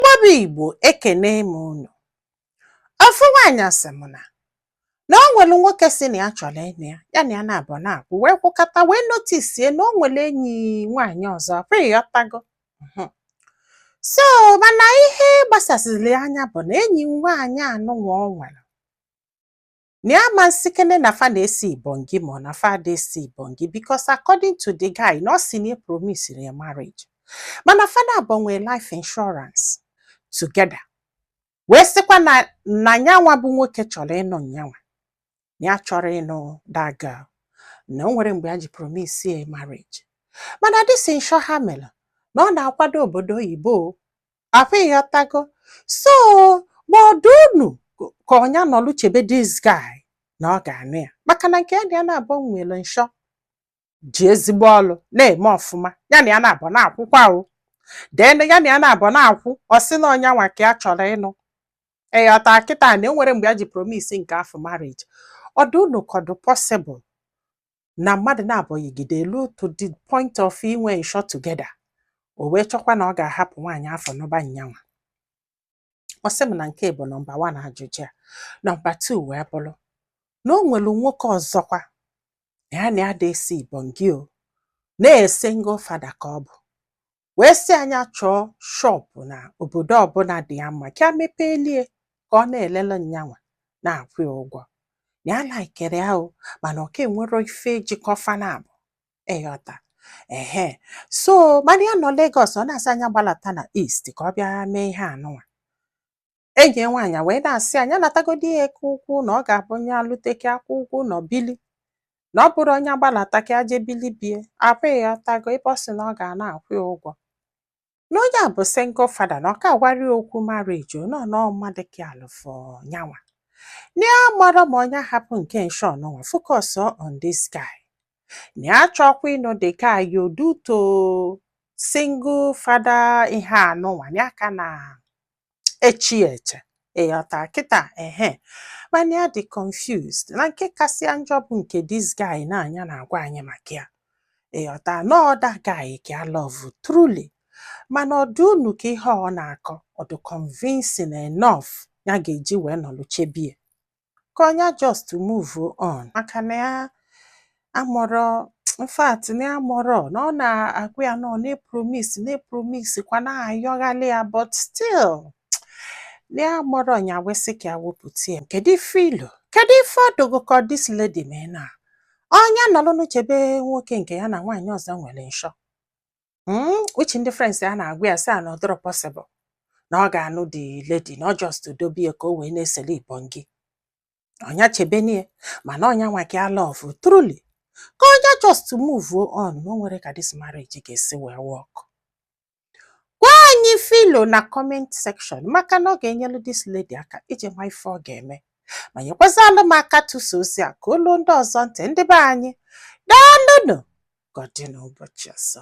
Mgbaba Igbo ekene m unu ofu nwaanyị asị m na na o nwere nwoke sị na ya chọrọ ịnụ ya ya na ya naabọ na-akwụ wee kwụkata wee notisie na o nwere enyi nwaanyị ọzọkwa ịghọtago mhm. so mana ihe gbasasịrị anya bụ na enyi nwaanyị anụnwa o nwere na ya ma nsikene na fa na-esi ibongi ma ọ na fa ada esi ibongi because according to the guy na ọ sị na promisiri ya marriage mana fa naabọ nwee life insurance together wee sịkwa na nyanwa bụ nwoke chọrọ ịnụ nyanwa na ya achọrọ ịnụ that girl na o nwero mgbe ya ji promise ya marriage mana this insure ha mere na ọ na-akwado obodo oyibo afụ ịghọtago so ma ọ dụ unu ka ọ nya nọlụ chebe this guy na ọ ga-anụ ya maka na nke ya na ya naabọ nwere insure ji ezigbo ọlụ na-eme ọfụma ya na ya naabọ na-akwụkwa o then ya na ya naabọ na-akwụ ọ sị na ọ nyanwa ka ya chọrọ ịnụ ịghọta kịta na enwero mgbe ya ji promise nke afụ marriage ọ dụ unu ka ọ dụ possible na mmadụ naabọ yigide elu to the point of inwe insure together o wee chọkwa na ọ ga-ahapụ nwaanyị afụ nụba nyanwa ọ sị m na nke bụ nọmba wan ajụjụ ya nọmba tu wee bụrụ na o nwere nwoke ọzọkwa ya na ya ada esi ibongi o na single fada ka ọ bụ wee sị anya chọọ shọpụ na obodo ọbụla dị ya mma ka ya mepeelie ka ọ na-elele nyanwa na-akwụ ya ụgwọ na ya laikere ya o mana ọ ka enwero ife jikọ fa naabọ ịghọta ehe so mana ya nọ Lagos ọ na-asị anya gbalata na East ka ọ bịa mee ihe anụnwa enyi ya nwaanyị wee na-asị anya natagodi ya eke ụkwụ na ọ ga-abụ onye alụteke akwụ ụkwụ na ọ bili na ọ bụrụ ọ nya gbalata ka aje bili be ya ịghọtago ebe ọ sị na ọ ga na-akwụ ya ụgwọ na onye a bụ single fada na ọ ka agwarọ ya okwu marriage nọ na mmadụ ka alụfọ nyanwa na ya amarọ ma ọ nya hapụ nke insure anụnwa focus on this guy na ya achọkwa ịnụ the guy o due to single fada ihe anụnwa na ya ka na eche eche ịghọta kịta ehe mana ya dị confused na nke kasị ya njọ bụ nke this guy na nya na-agwa anyị maka ya ịghọta na ọ that guy ka ya love truly mana ọ dụ unu ka ihe ọ na-akọ ọ dụ convincing enough ya ga-eji wee nọlụ chebe ya ka ọ nya just move on maka na ya amarọ in fact na ya amarọ na ọ na-agwa ya na ọ na-epromis na-epromis kwa na-ayọghalị ya but still na ya amarọ ọ nya wee sị ka ya wepụta ya kedu ife i lo kedu ife ọ dụ gụ ka this lady mee na ọ nya nọlụnụ chebe nwoke nke ya na nwaanyị ọzọ nwere insure hmm, which ndị friends ya na-agwa ya sị ya na ọ dọrọ possible na ọ ga-anụ the lady na ọ just dobe ya ka o wee na-esele ibon gị ọ nya chebenie mana ọ nya nwoke a love truly ka ọ nya just move on na o nwere ka this marriage ga-esi wee work gwa anyị ife i lo na comment section maka na ọ ga-enyelu this lady aka iji ma ife ọ ga-eme ma nyekwazalụ m aka tụsa ozi a ka o lu ndị ọzọ ntị ndị be anyị daalụnụ ka ọ dị n'ụbọchị ọzọ